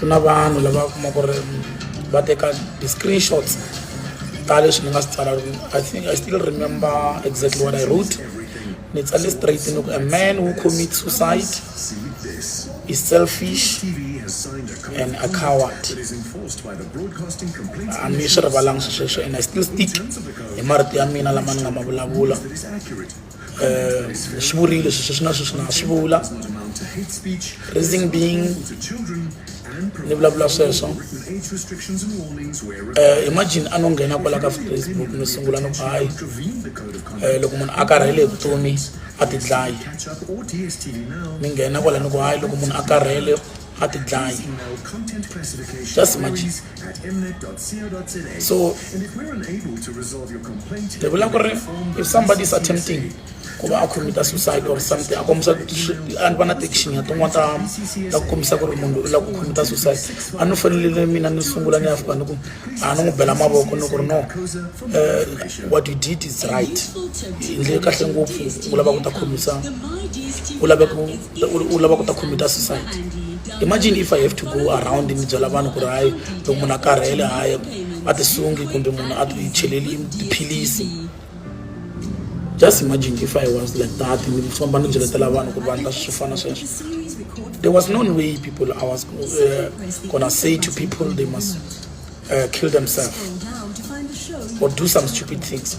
ku na vanhu lava kuma ku ri va teka ti-screenshots ta leswi ni nga swi tsala i think i still remember exactly what i wrote ni tsale straight ni ku a man who commit suicide is selfish and a coward a ni swi rivalangi swi sweswo and i still stick hi marito ya mina lama ni nga ma vulavula um swi vurile sweswi swi na sweswi na swi vula raising being ni vulavula sweswo um imagine a no nghena kwala ka facebook ni sungula ni ku hayi um loko munhu a karhele hi vutomi a tidlayi ni nghena kwala ni ku hayi loko munhu a karhele ha ti dlayi just imagine so ni vula ku ri if somebody is attempting ku va a commita suicide or something a kombisa a ni va na tiction ya tin'wana ta ta kombisa ku ri munhu u lava ku commita suicide a ni fanelele mina ni sungula ni ya fika ni ku a ni n'wi bela mavoko ni ku ri no eh, what you did is right hi ndle kahle ngopfu u lava ku ta khomisa u lava ku u lava ku ta computer suicide imagine if i have to go around ni byela vanhu ku ri hayi loko munhu a karhele hayi a tisungi kumbe munhu a ticheleli tiphilisi just imagine if i was like that ni famba ni byeletela vanhu ku ri vanhu ta swi fana sweswo there was no way people i was uh, gonna say to people they must uh, kill themselves or do some stupid things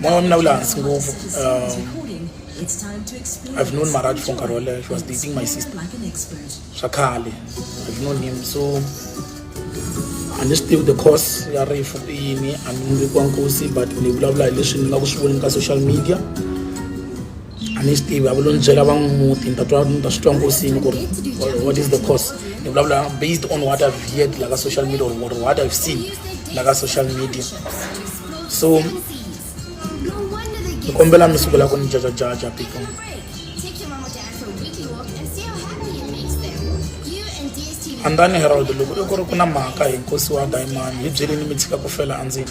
moya wa mina wu le hansi ngopfu um, I've known Marat for Karola. She was dating my sister. Shakali. I've known him. So I just still the course ya rifu ini andimbikwa nkosi but ni vulavula hi leswi ni nga ku swi voneni ka social media a ni swi tivi a vulo ni byela va n'wi muti ni ta twa ni ta swi twa nkosini ku ri what is the course ni vulavula based on what i've heard la ka social media or what i've seen la ka social media so ni kombela mi sukela ku ni jajajaja people andani herald loko i ku ri ku na mhaka hi nkosi wa diamond hi byelini mi tshika ku fela endzeni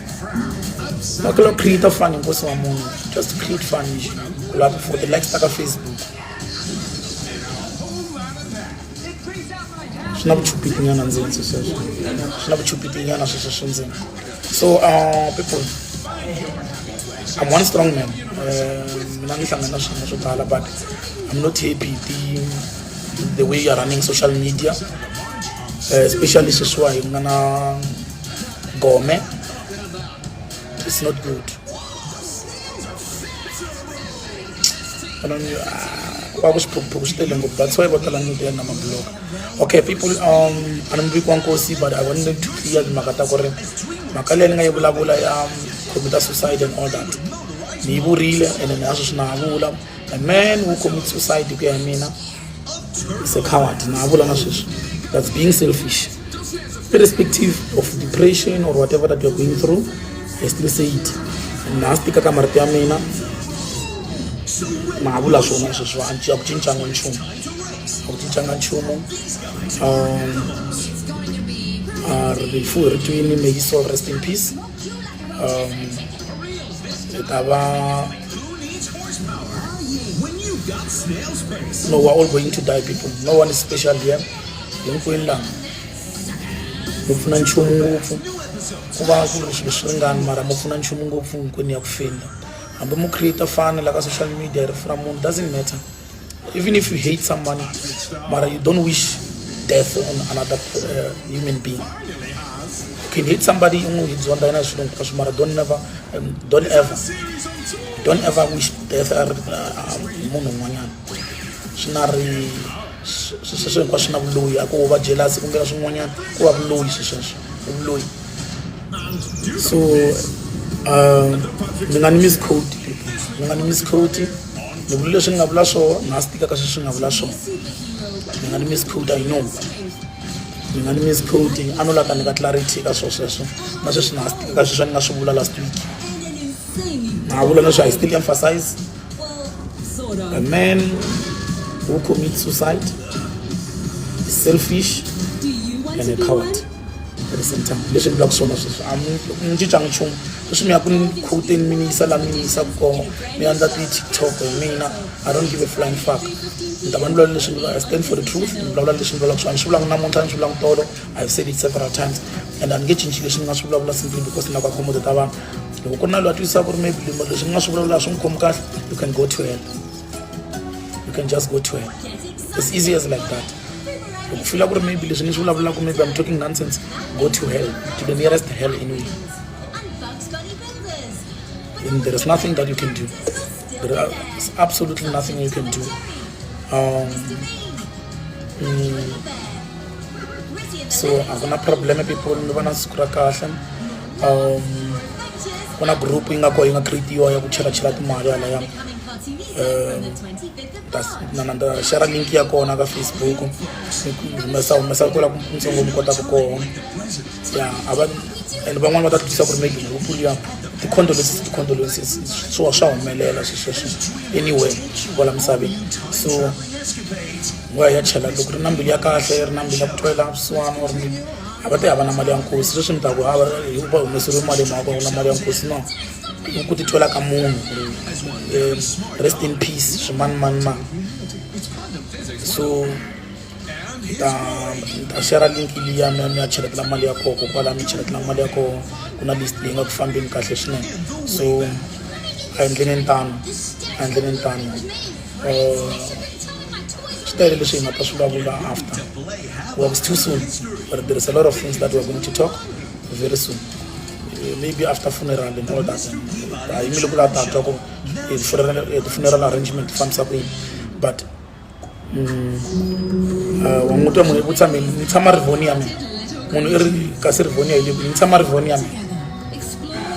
ngakho lo create fund inkosi wamuntu just create fund nje kulapho for the likes takafacebook swi na vuchupiti nyana ndzeni sweswo swi na vuchupiti nyana sweswo swi ndzeni so uh, people i'm one strong man eh, mina ni hlangana swin'we swo tala but i'm not happy the, the way you're running social media uh, especially sweswiwa hi nga na Gome. It's not good. kwakuxiphukuphukhu ah, xitele ngopfu that's why vo tala nyuti ya na mabloka okay people um a ni muviki wa nkosi but i want to clear timhaka ta ku ri mhaka leyi ni nga yi vulavula ya um, computer suicide and all that ni yi vurile ene ni a sweswi na ha vula a man who commits suicide hi ku ya mina is a coward na ha vula na sweswi that's being selfish irrespective of depression or whatever that you're going through i still say it na ha swi tika ka marito ya mina na ha vula swona sweswi a ku cincanga nchumu a ku cincanga nchumu um rifu ri twini may soul rest in peace um, e ta va no we're all going to die people no one is special here hinkwenu laha mi pfuna nchumu ngopfu ku va ku ri swilo swi ringani mara mi pfuna nchumu ngopfu hinkwenu ya ku fenda hambi mu create fana la ka social media rifu ra munhu doesn't matter Even if you hate someone, but you don't wish death on another uh, human being. You can hate somebody, it's one dynamic, but don't never, um, don't ever, don't ever wish death on umuntu un'wanyana swi nga ri sweswo hinkwaswo swi na vuloyi a ko va jelasi kumbe na swin'wanyana ku va vuloyi swesweswo i vuloyi so um, ni nga ni miscode ni nga ni miscode ni vula leswi ni nga vula swona na swi tikaka sweswi nga vula swona ni nga ni miss code i know ni nga ni miss code a no laka ni ka clarity ka swona sweswo na sweswi na swi tikaka sweswi ni nga swi vula last week na vula leswi i still emphasize a man who commits suicide is selfish and a coward leswi vulaka swona sweswi a mi cincanga nchumu sweswi mi ya ku ni khuteni mi ni yisa laha mi ni yisaka kona mi endla ti-tiktok hi mina i don't give a flying fuck ni ta va ni vulavula leswi ni i stand for the truth ni vulavula leswi ni vulavulaka swona ni swi vulanga namuntlha ni swi vulanga tolo i have said it several times and a ni nge cinci leswi ni nga swi vulavula simply because ni lava ku accommodate vanhu loko ku ri na loyi a twisaka ku ri maybe leswi ni nga swi vulavula swi n'wi khomi kahle you can go to hell you can just go to hell it's easy as like that loko fila ku ri maybe leswi ni swi vulavulaka maybe i'm talking nonsense go to hell to the nearest hell in you and there is nothing that you can do there is absolutely nothing you can do um, mm, so akuna problem people ni vona siku ra kahle um kuna group yi nga ko yi nga creatiwa ya ku chelachela timali alaya um na na ta share link ya kona ka facebook humesa humesa kwela ntsongo mi kotaka kona ya a va and van'wani va ta twisisa ku ri maybe hu pfuli ya ti-condolences ti-condolences swa swa humelela swi sweswo anyway kwala misaveni so wa ya chela loko ri na mbilu ya kahle ri na mbilu ya ku twela vusiwana or a va te hava na mali ya nkosi sweswi mi ta ku hava hi va humeseriwe mali hi mhaka ku na mali ya nkosi no ku titwela ka munhu um rest in peace swimanimani so ta ta share link liya mi ya mi ya cheletela mali ya koho kokwala mi cheletela mali ya koho ku na list leyi nga ku fambeni kahle swinene so a endleni ni tano a endleni ni tano um swi tele leswi hi nga ta swi vulavula after was too soon but there is a lot of things that we're going to talk very soon eh, maybe after funeral and all that a yimile ku lava tatwa ku ti-funeral arrangement ti fambisa ku yini but mm, ah, wa n'wi twa munhu ku tshame ni tshama rivoni ya mina munhu i ri kasi rivoni ya hi le kwini ni tshama rivoni ya mina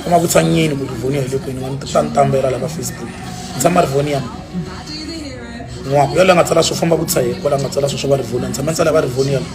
kuma ku tshanyeni ku rivoni ya hi le kwini wa ni ta ni tambela la ka facebook ni tshama rivoni ya mina n'waku yaloye a nga tsala swo famba ku tshayela kwala a nga tsala swo swo va rivoni ya ni tshama ni tsala va rivoni ya mina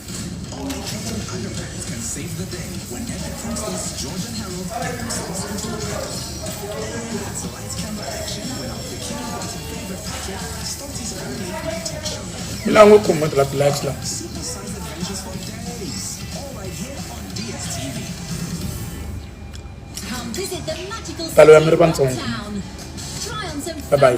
Mila ngo kuma tla black la. Palo ya miri bantsongo. Bye bye.